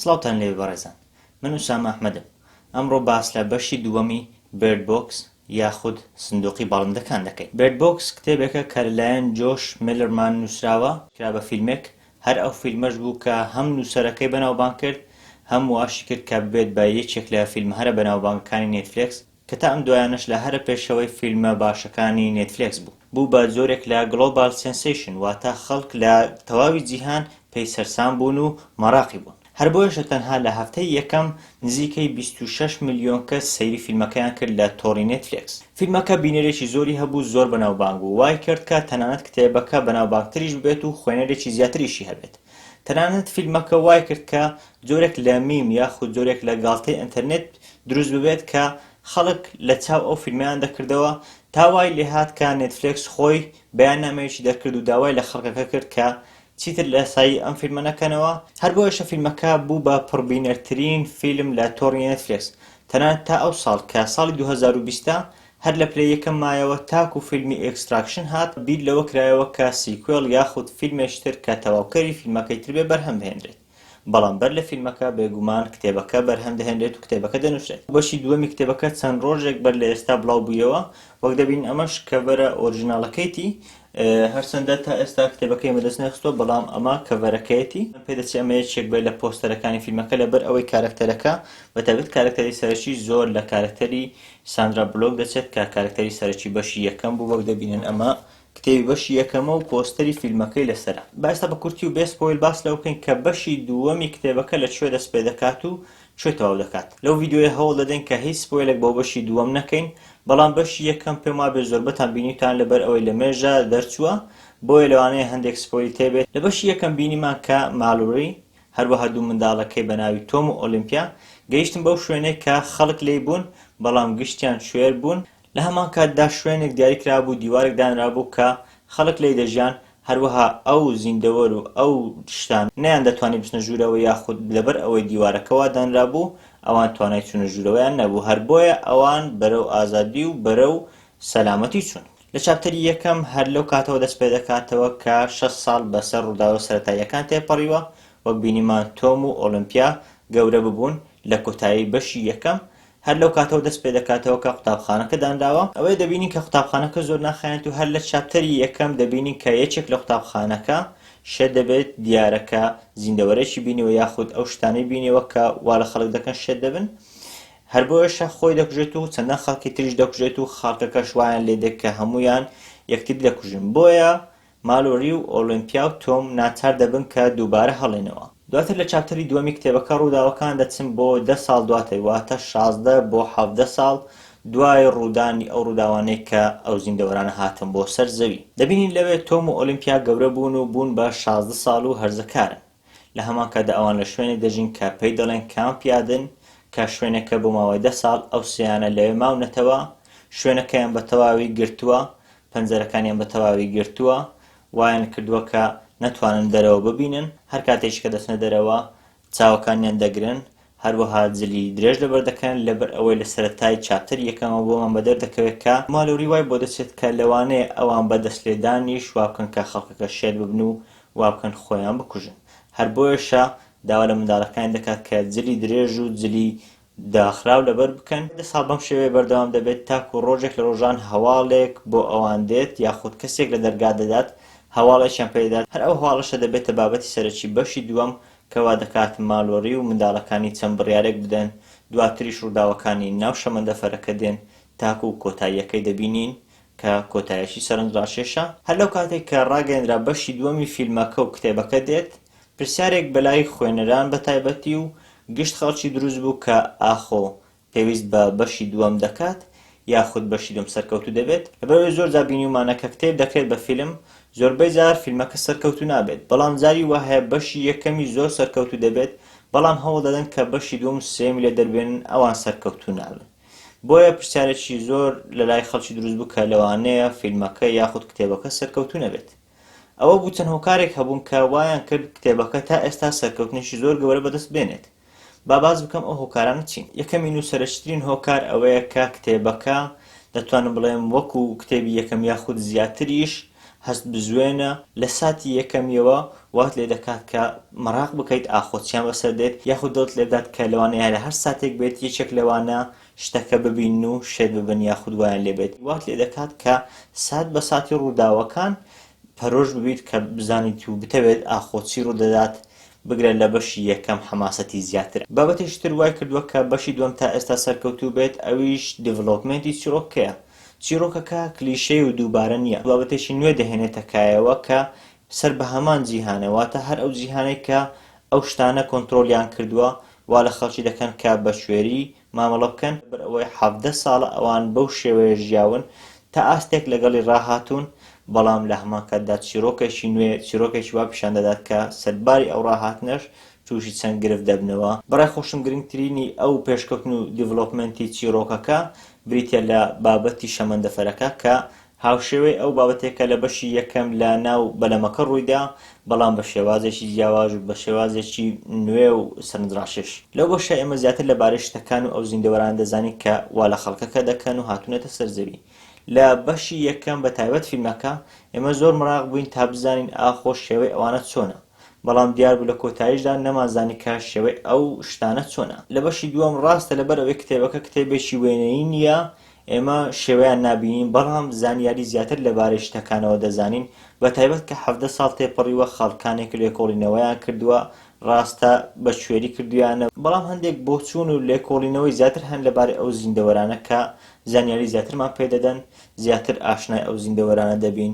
سڵاوتان لێبێ بەڕێزان من ئوسامە ئەحمەدم ئەمڕۆ باس لە بەشی دووەمی Bird Box یاخود سندوقی باڵندەکان دەکەین Bird Box کتێبێکە کە لەلایەن جۆش مێلەرمان نوسراوە کرا بە فیلمێک هەر ئەو فیلمەش بوو کە هەم نوسەرەکەی بەناوبانگ کرد هەم واشی کرد کە ببێت بە یەکێک لە فیلمە هەرە بەناوبانگەکانی نێتفلێکس کە تا ئەم دوایانەش لە هەرە پێشەوەی فیلمە باشەکانی نێتفلێکس بوو، بوو بە جۆرێک لە گڵۆبال سێنسەیشن، واتە خەڵک لە تەواوی جیهان پێی سەرسام بوون و مەراقی بوون. هەر بۆیەشە تەنها لە هەفتەی یەکەم نزیکەی بیست و شەش ملیۆن کەس سەیری فیلمەکەیان کرد لە تۆڕی نێتفلێکس. فیلمەکە بینەرێکی زۆری هەبوو، زۆر بەناوبانگ بوو، وای کرد کە تەنانەت کتێبەکە بەناوبانگتریش ببێت و خوێنەرێکی زیاتریشی هەبێت. تەنانەت فیلمەکە وای کرد کە جۆرێک لە میم یاخود جۆرێک لە گاڵتەی ئەنتەرنێت دروست ببێت کە خەڵک لە چاو ئەو فیلمەیان دەکردەوە تا وای لێهات کە نێتفلێکس خۆی بەیاننامەیەکی دەرکرد و داوای لە خەڵکەکە کرد کە چیتر لە سایی ئەم فیلمە نەکەنەوە هەر بۆیەشە فیلمەکە بوو بە پڕبینەرترین فیلم لە تۆڕی نێتفلێکس تەنانەت تا ئەو ساڵ کە ساڵی دوو هەزار و بیست هەر لە پلەی یەکەم مایەوە تاکوو فیلمی ئێکستراکشن هات بیر لەوە کرایەوە کە سیکوێڵ یاخود فیلمێکی تر کە تەواوکەری فیلمەکەی تر بێ بەرهەم بهێنرێت. بەڵام بەر لە فیلمەکە بێگومان کتێبەکە بەرهەم دەهێنرێت و کتێبەکە دەنووسرێت. بەشی دووەمی کتێبەکە چەند ڕۆژێک بەر لە ئێستا بڵاو بوویەوە، وەک دەبینن ئەمەش کەڤەرە ئۆرجیناڵەکەیەتی، هەرچەندە تا ئێستا کتێبەکەی بەدەست نەخستووە، بەڵام ئەمە کەڤەرەکەیەتی. پێدەچێت ئەمە یەکێک بێت لە پۆستەرەکانی فیلمەکە، لەبەر ئەوەی کارەکتەرەکە، بە تایبەت کارەکتەری سەرەکی، زۆر لە کارەکتەری ساندرا بلۆک دەچێت، کە کارەکتەری سەرەکی بەشی یەکەم بوو، وەک دەبینن ئەمە کتێبی بەشی یەکەمە و پۆستەری فیلمەکەی لەسەرە. با ئێستا بە کورتی و بێ سپۆیل باس لەوە بکەین کە بەشی دووەمی کتێبەکە لە کوێ دەست پێ دەکات و کوێ تەواو دەکات. لەو ڤیدیۆیە هەوڵ دەدەین کە هیچ سپۆیلێک بۆ بەشی دووەم نەکەین، بەڵام بەشی یەکەم پێم وابێ زۆربەتان بینیوتان لەبەر ئەوەی لە مێژە دەرچووە، بۆیە لەوانەیە هەندێک سپۆیلی تێ بێت. لە بەشی یەکەم بینیمان کە مالوری، هەروەها دوو منداڵەکەی بە ناوی تۆم و ئۆلیمپیا گەیشتن بەو شوێنەی کە خەڵک لێی بوون، بەڵام گشتیان کوێر بوون. لە هەمان کاتدا شوێنێک دیاری کرابوو، دیوارێک دانرابوو کە خەڵک لێی دەژیان، هەروەها ئەو زیندەوەر و ئەو شتانە نەیاندەتوانی بچنە ژوورەوە یاخود لەبەر ئەوەی دیوارەکە وا دانرابوو ئەوان توانای چوونە ژوورەوەیان نەبوو، هەر بۆیە ئەوان بەرەو ئازادی و بەرەو سەلامەتی چوون. لە چاپتەری یەکەم هەر لەو کاتەوە دەست پێ دەکاتەوە کە شەست ساڵ بەسەر ڕووداوە سەرەتاییەکان تێپەڕیوە، وەک بینیمان تۆم و ئۆڵیمپیا گەورە ببوون لە کۆتایی بەشی یەکەم، هەر لەو کاتەوە دەست پێ دەکاتەوە کە قوتابخانەکە دانراوە، ئەوەیە دەبینین کە قوتابخانەکە زۆر ناخایەنێت و هەر لە چاپتەری یەکەم دەبینین کە یەکێک لە قوتابخانەکە شێت دەبێت، دیارە کە زیندەوەرێکی بینیوە یاخود ئەو شتانەی بینیوە کە وا لە خەڵک دەکەن شێت دەبن، هەر بۆیەشە خۆی دەکوژێت و چەندان خەڵکی تریش دەکوژێت و خەڵکەکەش وایان لێ دێت کە هەموویان یەکتری دەکوژن، بۆیە مالۆری و ئۆلۆمپیا و تۆم ناچار دەبن کە دووبارە هەڵێنەوە. دواتر لە چاپتەری دووەمی کتێبەکە ڕووداوەکان دەچن بۆ دە ساڵ دواتر واتە شازدە بۆ حەڤدە ساڵ دوای ڕوودانی ئەو ڕووداوانەی کە ئەو زیندەوەرانە هاتن بۆ سەر زەوی. دەبینین لەوێ تۆم و ئۆلۆمپیا گەورە بوون و بوون بە شازدە ساڵ و هەرزەکارن. لە هەمان کاتدا ئەوان لە شوێنێک دەژین کە پێی دەڵێن کامپیادن، کە شوێنەکە بۆ ماوەی دە ساڵ ئەو سێیانە لەوێ ماونەتەوە، شوێنەکەیان بە تەواوی گرتووە، پەنجەرەکانیان بە تەواوی گرتووە، وایان کردووە کە نەتوانن دەرەوە ببینن، هەر کاتێکیش کە دەچنە دەرەوە چاوەکانیان دەگرن، هەروەها جلی درێژ لەبەر دەکەن، لەبەر ئەوەی لە سەرەتای چاپتەری یەکەمەوە بۆمان بە دەر دەکەوێت کە مالۆری وای بۆ دەچێت کە لەوانەیە ئەوان بە دەست لێدانیش وا بکەن کە خەڵکەکە شێت ببن و وا بکەن خۆیان بکوژن. هەر بۆیەشە داوا لە منداڵەکانی دەکات کە جلی درێژ و جلی داخراو لەبەر بکەن. دە ساڵ بەم شێوەیە بەردەوام دەبێت تاکوو ڕۆژێک لە ڕۆژان هەواڵێک بۆ ئەوان دێت یاخود کەسێک لە دەرگا دەدات هەواڵێکیان پێ دەدات، هەر ئەو هەواڵەشە دەبێتە بابەتی سەرەکی بەشی دووەم کە وا دەکات مالۆری و منداڵەکانی چەند بڕیارێک بدەن، دواتریش ڕووداوەکانی ناو شەمەندەفەرەکە دێن تاکوو کۆتاییەکەی دەبینین کە کۆتایەکی سەرنجڕاکێشە. هەر لەو کاتەی کە ڕاگەیەندرا بەشی دووەمی فیلمەکە و کتێبەکە دێت، پرسیارێک بە لای خوێنەران بە تایبەتی و گشت خەڵکی دروست بوو کە ئاخۆ پێویست بە بەشی دووەم دەکات یاخود بەشی دووەم سەرکەوتوو دەبێت؟ لەبەر ئەوەی زۆر جار بینیومانە کە کتێب دەکرێت بە فیلم زۆربەی جار فیلمەکە سەرکەوتوو نابێت بەڵام جاری وا هەیە بەشی یەکەمی زۆر سەرکەوتوو دەبێت بەڵام هەوڵ دەدەن کە بەشی دووەم و سێیەمی لێ دەربێنن ئەوان سەرکەوتوو نابن بۆیە پرسیارێکی زۆر لە لای خەڵکی دروست بوو کە لەوانەیە فیلمەکە یاخود کتێبەکە سەرکەوتوو نەبێت ئەوە بوو چەند هۆکارێک هەبوون کە وایان کرد کتێبەکە تا ئێستا سەرکەوتنێکی زۆر گەورە بەدەست بێنێت با باس بکەم ئەو هۆکارانە چین یەکەمین و سەرەکیترین هۆکار ئەوەیە کە کتێبەکە دەتوانم بڵێم وەکو کتێبی یەکەم یاخود زیاتریش هەست بزوێنە لە ساتی یەکەمیەوە وات لێ دەکات کە مەراق بکەیت ئاخۆ چیان بەسەر دێت یاخود دڵت لێ بدات کە لەوانەیە لە هەر ساتێک بێت یەکێک لەوانە شتەکە ببین و شێت ببن یاخود وایان لێ بێت وات لێ دەکات کە سات بە ساتی ڕووداوەکان پەرۆش ببیت کە بزانیت و بتەوێت ئاخۆ چی ڕوودەدات بگرە لە بەشی یەکەم حەماسەتی زیاترە. بابەتێکی تر وای کردووە کە بەشی دووەم تا ئێستا سەرکەوتوو بێت ئەویش دیڤلۆپمێنتی چیڕۆکەکەیە. چیڕۆکەکە کلیشەیی و دووبارە نییە، بابەتێکی نوێ دەهێنێتە کایەوە کە سەر بە هەمان جیهانە، واتە هەر ئەو جیهانەی کە ئەو شتانە کۆنترۆڵیان کردووە وا لە خەڵکی دەکەن کە بەکوێری مامەڵە بکەن، لەبەر ئەوەی حەڤدە ساڵە ئەوان بەو شێوەیە ژیاون، تا ئاستێک لەگەڵی ڕاهاتوون، بەڵام لە هەمان کاتدا چیڕۆکێکی نوێ، چیڕۆکێکی وا پیشان دەدات کە سەرباری ئەو ڕاهاتنەش تووشی چەند گرفت دەبنەوە. بەڕای خۆشم گرنگترینی ئەو پێشکەوتن و دیڤلۆپمێنتی چیڕۆکەکە بریتییە لە بابەتی شەمەندەفەرەکە کە هاوشێوەی ئەو بابەتەی کە لە بەشی یەکەم لە ناو بەلەمەکە ڕوویدا، بەڵام بە شێوازێکی جیاواز و بە شێوازێکی نوێ و سەرنجڕاکێش. لەو بەشە ئێمە زیاتر لە بارەی شتەکان و ئەو زیندەوەرانە دەزانین کە وا لە خەڵکەکە دەکەن و هاتوونەتە سەر زەوی. لە بەشی یەکەم بە تایبەت فیلمەکە، ئێمە زۆر مەراق بووین تا بزانین ئاخۆ شێوەی ئەوانە چۆنە؟ بەڵام دیار بوو لە کۆتاییشدا نەمانزانی کە شێوەی ئەو شتانە چۆنە. لە بەشی دووەم ڕاستە لەبەر ئەوەی کتێبەکە کتێبێکی وێنەیی نییە، ئێمە شێوەیان نابینین، بەڵام زانیاری زیاتر لەبارەی شتەکانەوە دەزانین، بە تایبەت کە حەڤدە ساڵ تێپەڕیوە، خاڵکانێک لێکۆڵینەوەیان کردووە، ڕاستە بەکوێری کردوویانە، بەڵام هەندێک بۆچوون و لێکۆڵینەوەی زیاتر هەن لەبارەی ئەو زیندەوەرانە کە زانیاری زیاترمان پێ دەدەن، زیاتر ئاشنای ئەو زیندەوەرانە دەبین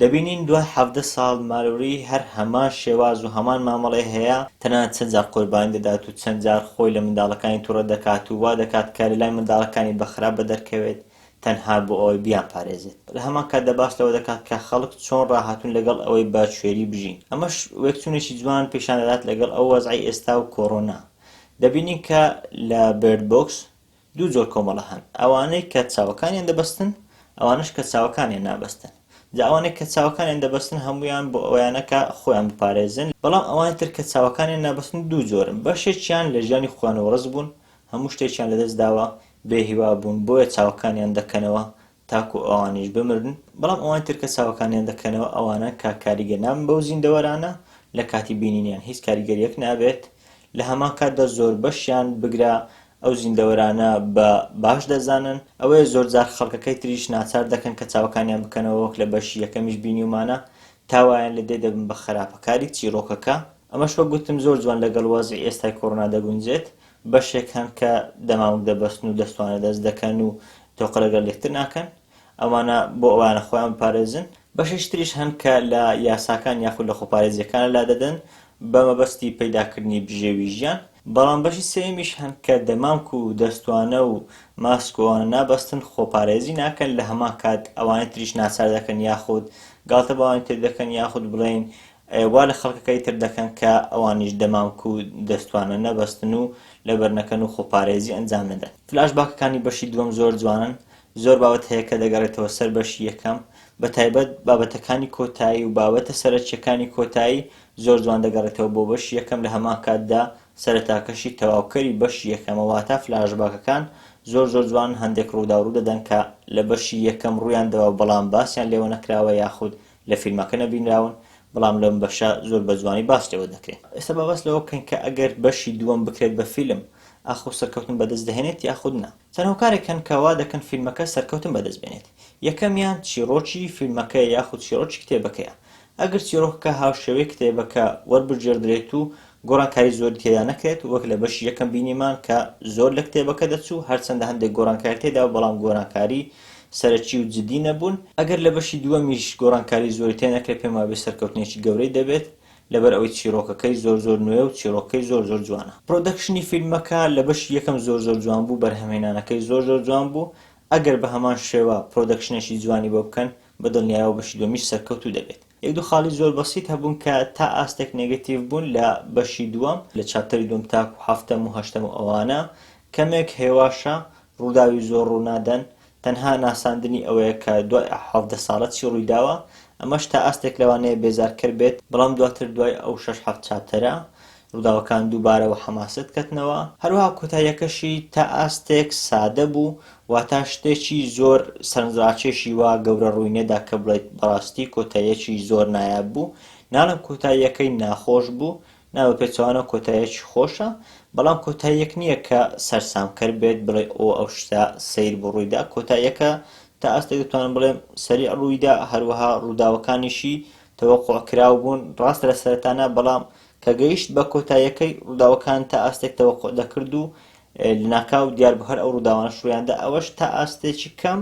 دەبینین دوای حەڤدە ساڵ ماروری هەر هەمان شێواز و هەمان مامەڵەی هەیە، تەنانەت چەند جار قوربانی دەدات و چەند جار خۆی لە منداڵەکانی توڕە دەکات و وا دەکات کە لەلای منداڵەکانی بە خراپ بەدەرکەوێت تەنها بۆ ئەوەی بیانپارێزێت. لە هەمان کاتدا باس لەوە دەکات کە خەڵک چۆن ڕاهاتوون لەگەڵ ئەوەی بە کوێری بژین. ئەمەش وێکچوونێکی جوان پیشان دەدات لەگەڵ ئەو وەزعەی ئێستا و کۆرۆنا. دەبینین کە لە بێرد بۆکس، دوو جۆر کۆمەڵە هەن، ئەوانەی کە چاوەکانیان دەبەستن، ئەوانەش کە چاوەکانیان نابەستن. جا ئەوانەی کە چاوەکانیان دەبەستن هەموویان بۆ ئەوەیانە کە خۆیان بپارێزن، بەڵام ئەوانی تر کە چاوەکانیان نابەستن دوو جۆرن، بەشێکیان لە ژیانی خۆیانەوە ڕزگبوون، هەموو شتێکیان لەدەستداوە، بێهیوا بوون، بۆیە چاوەکانیان دەکەنەوە، تاکو ئەوانیش بمرن، بەڵام ئەوانی تر کە چاوەکانیان دەکەنەوە ئەوانە کە کاریگەر نابن بەو زیندەوەرانە لە کاتی بینینیان هیچ کاریگەریەک نابێت، لە هەمان کاتدا زۆربەشیان بگرە ئەو زیندەوەرانە بە باش دەزانن، ئەوەیە زۆرجار خەڵکەکەی تریش ناچار دەکەن کە چاوەکانیان بکەنەوە وەک لە بەشی یەکەمیش بینیومانە تا وایان لێ دێ دەبن بە خەراپەکاری چیڕۆکەکە، ئەمەش وەک گوتم زۆر جوان لەگەڵ وەزعی ئێستای کۆڕۆنا دەگونجێت بەشێک هەن کە دەمامک دەبەستن و دەستوانە دەست دەکەن و تۆقە لەگەڵ یەکتر ناکەن، ئەوانە بۆ ئەوانە خۆیان بپارێزن، بەشێکی تریش هەن کە لە یاساکان یاخود لە خۆپارێزییەکانە لادەدەن بە مەبەستی پەیداکردنی بژێوی ژیان، بەڵام بەشی سێیەمیش هەن کە دەمامک و دەستوانە و ماسک و ئەوانە نابەستن، خۆپارێزی ناکەن، لە هەمان کات ئەوانی تریش ناچار دەکەن یاخود گاڵتە بەوانی تر دەکەن یاخود بڵێین وا لە خەڵکەکەی تر دەکەن کە ئەوانیش دەمامک و دەستوانە نەبەستن و لەبەر نەکەن و خۆپارێزی ئەنجام نەدەن. فلاش باکەکانی بەشی دووەم زۆر جوانن زۆر بابەت هەیە کە دەگەڕێتەوە سەر بەشی یەکەم بە تایبەت بابەتەکانی کۆتایی و بابەتە سەرەکیەکانی کۆتایی زۆر جوان دەگەڕێتەوە بۆ بەشی یەکەم لە هەمان کاتدا سەرەتاکەشی تەواوکەری بەشی یەکەمە واتا فلاش باکەکان زۆر زۆر جوانن هەندێک ڕووداو ڕوودەدەن کە لە بەشی یەکەم ڕوویان داوە بەڵام باسیان لێوە نەکراوە یاخود لە فیلمەکە نەبینراون، بەڵام لەم بەشە زۆر بە جوانی باس لێوە دەکرێ. ئێستا با باس لەوە بکەین کە ئەگەر بەشی دووەم بکرێت بە فیلم، ئاخۆ سەرکەوتن بەدەست دەهێنێت یاخود نا؟ چەند هۆکارێک هەن کە وا دەکەن فیلمەکە سەرکەوتن بەدەست بێنێت. یەکەمیان چیڕۆکی فیلمەکەیە یاخود چیڕۆکی کتێبەکەیە. ئەگەر چیڕۆکەکە هاوشێوەی کتێبەکە وەربگێڕدرێت و گۆڕانکاری زۆری تێدا نەکرێت، وەک لە بەشی یەکەم بینیمان کە زۆر لە کتێبەکە دەچوو، هەرچەندە هەندێک گۆڕانکاری تێدابوو بەڵام گۆرانکاری سەرەکی و جدی نەبوون، ئەگەر لە بەشی دووەمیش گۆڕانکاری زۆری تێنەکرێت پێم وابێت سەرکەوتنێکی گەورەی دەبێت لەبەر ئەوەی چیڕۆکەکەی زۆر زۆر نوێ و چیڕۆکەکەی زۆر زۆر جوانە. پڕۆدەکشنی فیلمەکە لە بەشی یەکەم زۆر زۆر جوان بوو، بەرهەمهێنانەکەی زۆر زۆر جوان بوو، ئەگەر بە هەمان شێوە پڕۆدەکشنێکی جوانی بۆ بکەن بە دڵنیایەوە بەشی دووەمیش سەرکەوتوو دەبێت. یەک دوو خاڵی زۆر بەسیت هەبوون کە تا ئاستێک نێگەتیڤ بوون لە بەشی دووەم، لە چاپتەری دووەم تاکوو هەفتەم و هەشتەم و ئەوانە کەمێک هێواشە، ڕووداوی زۆر ڕوو نادەن، تەنها ناساندنی ئەوەیە کە دوای ئه حەڤدە ساڵە چی ڕووی داوە، ئەمەش تا ئاستێک لەوانەیە بێزارکەر بێت، بەڵام دواتر دوای ئەو شەش حەفت چاپتەرە ڕووداوەکان دووبارە و حەماسەت کەتنەوە، هەروەها کۆتاییەکەشی تا ئاستێک سادە بوو، واتە شتێکی زۆر سەرنجڕاکێشی وا گەورە ڕووی نەدا کە بڵێیت بەڕاستی کۆتاییەکی زۆر نایاب بوو، ناڵێم کۆتاییەکەی ناخۆش بوو، نا بە پێچەوانەوە کۆتاییەکی خۆشە، بەڵام کۆتاییەک نییە کە سەرسامکەر بێت بڵێی ئۆ ئەو شتە سەیر بوو ڕووی دا، کۆتاییەکە تا ئاستێک دەتوانم بڵێم سەریع ڕووی دا، هەروەها ڕووداوەکانیشی تەوەقوع کراو بوون، ڕاستە لە سەرەتا نا، بەڵام کە گەیشت بە کۆتاییەکەی ڕووداوەکان تا ئاستێک تەوەقوع دەکرد و لەناکاو دیار بوو هەر ئەو ڕووداوانە شویاندا ئەوەش تا ئاستێکی کەم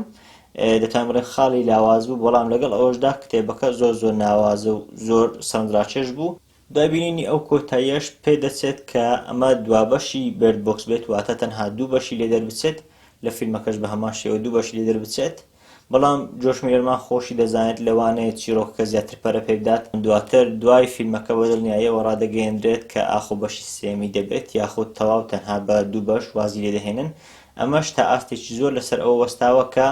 دەتوان بڵێن خاڵی لاواز بوو بەڵام لەگەڵ ئەوەشدا کتێبەکە زۆر زۆر ناوازە و زۆر سەرنجڕاکێش بوو دوای بینینی ئەو کۆتاییەش پێدەچێت کە ئەمە دوابەشی بێرد بۆکس بێت واتە تەنها دوو بەشی لێ دەربچێت لە فیلمەکەش بە هەمان شێوە دوو بەشی لێ دەربچێت بەڵام جۆرج میلەرمان خۆشی دەزانێت لەوانەیە چیڕۆکەکە زیاتر پەرە پێبدات، دواتر دوای فیلمەکە بە دڵنیاییەوە ڕادەگەیەنرێت کە ئاخۆ بەشی سێیەمی دەبێت یاخود تەواو تەنها بە دوو بەش وازی لێ دەهێنن، ئەمەش تا ئاستێکی زۆر لەسەر ئەوە وەستاوە کە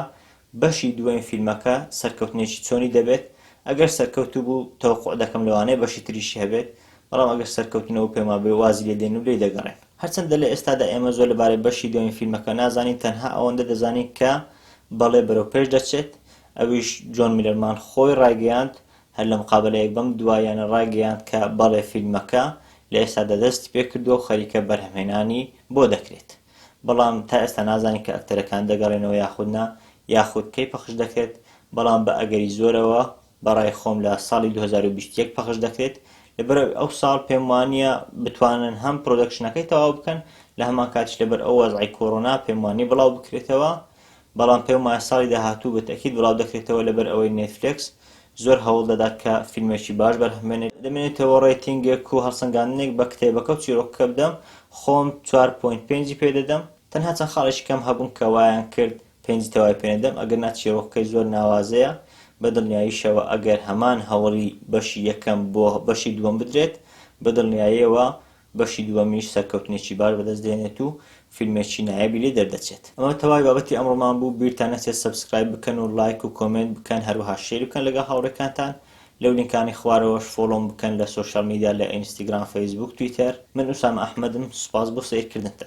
بەشی دووەم فیلمەکە سەرکەوتنێکی چۆنی دەبێت، ئەگەر سەرکەوتوو بوو تەوەقوع دەکەم لەوانەیە بەشی تریشی هەبێت، بەڵام ئەگەر سەرکەوتوو نەبوو پێموابێ وازی لێ دێن و لێی دەگەڕێن. هەرچەندە لە ئێستادا ئێمە زۆر لەبارەی بەشی دووەمی فیلمەکە نازانین تەنها ئەوەندە دەزانین کە بەڵێ بەرەو پێش دەچێت ئەویش جۆن میلەرمان خۆی ڕایگەیاند هەر لە مقابەلەیەک بەم دواییانە ڕایگەیاند کە بەڵێ فیلمەکە لە ئێستادا دەستی پێکردووە و خەریکە بەرهەمهێنانی بۆ دەکرێت بەڵام تا ئێستا نازانین کە ئەکتەرەکان دەگەڕێنەوە یاخود نا یاخود کەی پەخش دەکرێت بەڵام بە ئەگەری زۆرەوە بەڕای خۆم لە ساڵی دوو هەزار و بیست و یەک پەخش دەکرێت لەبەرئەوەی ئەو ساڵ پێم وانیە بتوانن هەم پرۆدەکشنەکەی تەواو بکەن لە هەمان کاتیش لەبەر ئەو وەزعی کۆرۆنا پێم وانیە بڵاو بکرێتەوە بەڵام پێم وایە ساڵی داهاتوو بە تەئکید بڵاو دەکرێتەوە لەبەر ئەوەی نێتفلێکس زۆر هەوڵ دەدات کە فیلمێکی باش بەرهەم بێنێت دەمێنێتەوە ڕێتینگێک و هەڵسەنگاندنێک بە کتێبەکە و چیرۆکەکە بدەم خۆم چوار پۆینت پێنجی پێ دەدەم تەنها چەند خاڵێکی کەم هەبوون کە وایان کرد پێنجی تەوای پێ نەدەم، ئەگەرنا چیرۆکەکەی زۆر ناوازەیە، بەدڵنیاییشەوە ئەگەر هەمان هەوڵی بەشی یەکەم بۆ بەشی دووەم بدرێت، بەدڵنیاییەوە بەشی دووەمیش سەرکەوتنێکی باش بەدەست دێنێت و فیلمێکی نایابی لێ دەردەچێت. ئەمە تەواوی بابەتی ئەمڕۆمان بوو، بیرتان نەچێت سەبسکرایب بکەن و ڵایک و کۆمێنت بکەن، هەروەها شێری بکەن لەگەڵ هاوڕێکانتان، لەو لینکانەی خوارەوەش فۆڵۆم بکەن لە سۆشیاڵ میدیا لە ئینستیگرام، فەیسبووک، تویتەر. من ئوسامە ئەحمەدم، سوپاس بۆ سەیرکردنتان.